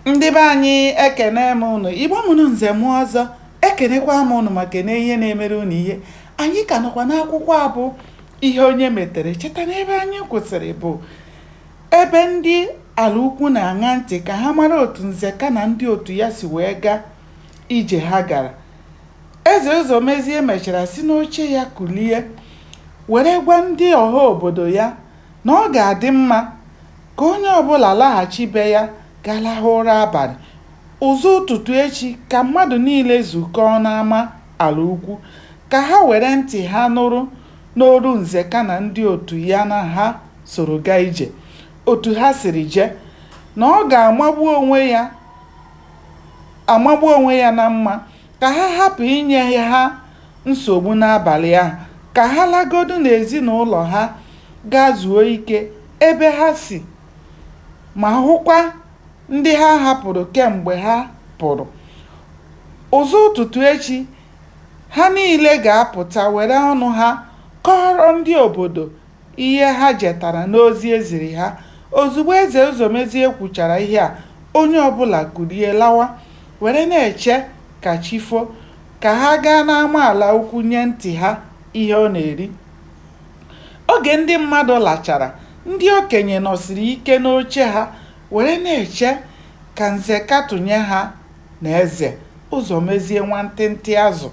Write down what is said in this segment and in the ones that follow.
ndị be anyị ekene m ụnụ igbo mụrụ nze mụọ ọzọ ekenekwa m ụnụ ma kene ihe na-emere ụnụ ihe anyị ka nọkwa n'akwụkwọ a bụ ihe onye metere cheta na ebe anyị kwụsịrị bụ ebe ndị ala ukwu na-aṅa ntị ka ha mara otu nzeka na ndị otu ya si wee gaa ije ha gara eze ụzọmezie mechara si n'oche ya kulie were gwa ndị ọha obodo ya na ọ ga-adị mma Ka onye ọbụla laghachi be ya gaa lahụ ụra abalị. Ụzọ ụtụtụ echi ka mmadụ niile zukọọ n'ama ala ukwu ka ha were ntị ha nụrụ n'olu Nzeka na ndị otu ya na ha soro gaa ije, otu ha siri jee, na ọ ga-amagbu onwe ya amagbu onwe ya na mma. Ka ha hapụ inye ha nsogbu n'abalị ahụ, ka ha lagodu n'ezinụlọ ha gaa zuo ike ebe ha si ma hụkwa ndị ha hapụrụ kemgbe ha pụrụ. Ụzọ ụtụtụ echi, ha niile ga-apụta were ọnụ ha kọọrọ ndị obodo ihe ha jetara n'ozi e ziri ha. Ozugbo Eze Ụzọmezie kwuchara ihe a, onye ọbụla kulie lawa, were na-eche ka chi fo, ka ha gaa n'ama ala ukwu nye ntị ha ihe ọ na-eri. Oge ndị mmadụ lachara, ndị okenye nọsiri ike n'oche ha were na-eche ka Nzeka tụnye ha na Eze Ụzọmezie nwantịntị azụ,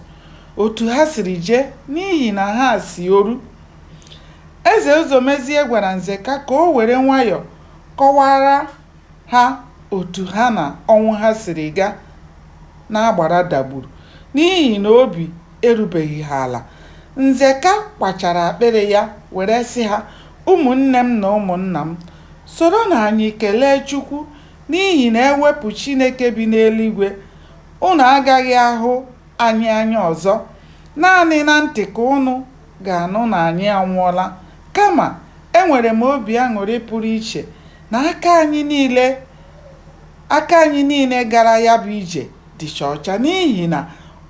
otu ha siri jee n'ihi na ha si Oru. Eze Ụzọmezie gwara Nzeka ka o were nwayọọ kọwaara ha otu ha na Ọnwụha siri gaa n'agbara dagburu n'ihi na obi erubeghị ha ala. Nzeka kwachara akpịrị ya were sị ha, Ụmụnne m na ụmụnna m, soronụ anyị kelee Chukwu n'ihi na e wepụ Chineke bi n'eluigwe, ụnụ agaghị ahụ anyị anya ọzọ. Naanị na ntị ka ụnụ ga-anụ na anyị anwụọla. Kama, enwere m obi aṅụrị pụrụ iche na aka anyị niile aka anyị niile gara ya bụ ije dịcha ọcha n'ihi na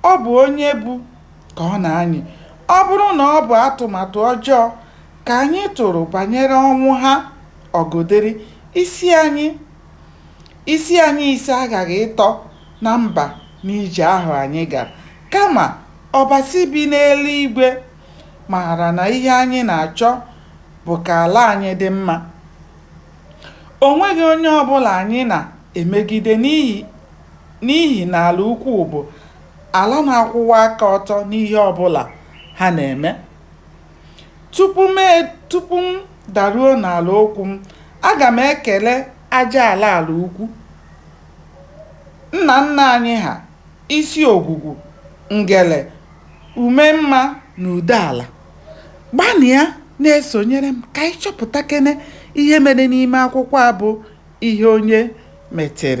ọ bụ onye bu ka ọ na-anyị. Ọ bụrụ na ọ bụ atụmatụ ọjọọ ka anyị tụrụ banyere Ọnwụha Ọgụdịrị, isi anyị. Isi anyị ise aghaghị ịtọ na mba n'ije ahụ anyị gara. Kama, Ọbasi bi n'eluigwe maara na ihe anyị na-achọ bụ ka ala anyị dị mma. O nweghị onye ọ bụla anyị na-emegide n'ihi na Ala Ukwu bụ ala na-akwụwa aka ọtọ n'ihe ọ bụla ha na-eme. Tupu m e, tupu m daruo n'ala okwu m, aga m ekele aja ala ala ukwu nna nna anyị ha, isi ogwugwu, ngele, ume mma na ude ala. Gbanịa na-esonyere m ka anyị chọpụtakene ihe mere n'ime akwụkwọ a bụ Ihe Onye Metere.